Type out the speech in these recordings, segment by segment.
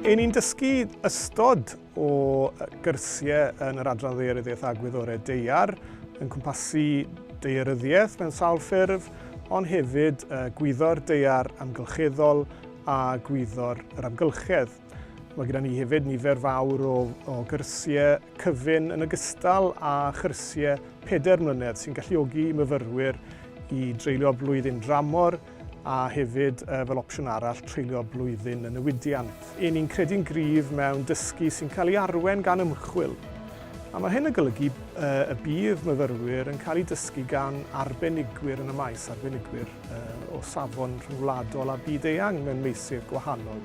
Yn ni'n dysgu ystod o gyrsiau yn yr Adran Ddeiryddiaeth a Gwyddorau Deiar, yn cwmpasu deiryddiaeth mewn sawl ffurf, ond hefyd gwyddor deiar amgylcheddol a gwyddor yr amgylchedd. Mae gyda ni hefyd nifer fawr o, o gyrsiau cyfyn yn ogystal â chyrsiau pedair mlynedd sy'n galluogi myfyrwyr i dreulio blwyddyn dramor a hefyd e, fel opsiwn arall treulio blwyddyn yn newidiant. Yn ni'n credu'n gryf mewn dysgu sy'n cael ei arwen gan ymchwil. A mae hyn yn golygu e, y bydd myfyrwyr yn cael eu dysgu gan arbenigwyr yn y maes, arbenigwyr e, o safon rhyngwladol a byd-eang mewn meysydd gwahanol.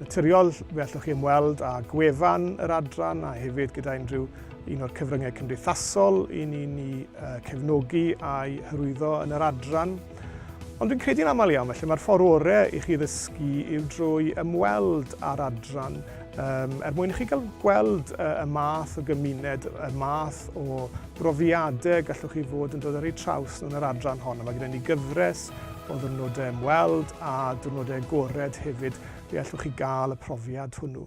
Naturiol, fe allwch chi ymweld â gwefan yr adran a hefyd gyda unrhyw un o'r cyfryngau cymdeithasol i ni'n ni cefnogi a'i hyrwyddo yn yr adran. Ond dwi'n credu'n aml iawn, felly mae'r ffordd orau i chi ddysgu yw drwy ymweld â'r adran um, er mwyn i chi gael gweld uh, y math o gymuned, y math o brofiadau gallwch chi fod yn dod ar eu traws nhw yn yr adran hon, a mae gyda ni gyfres o ddiwrnodau ymweld a diwrnodau agored hefyd lle allwch chi gael y profiad hwnnw.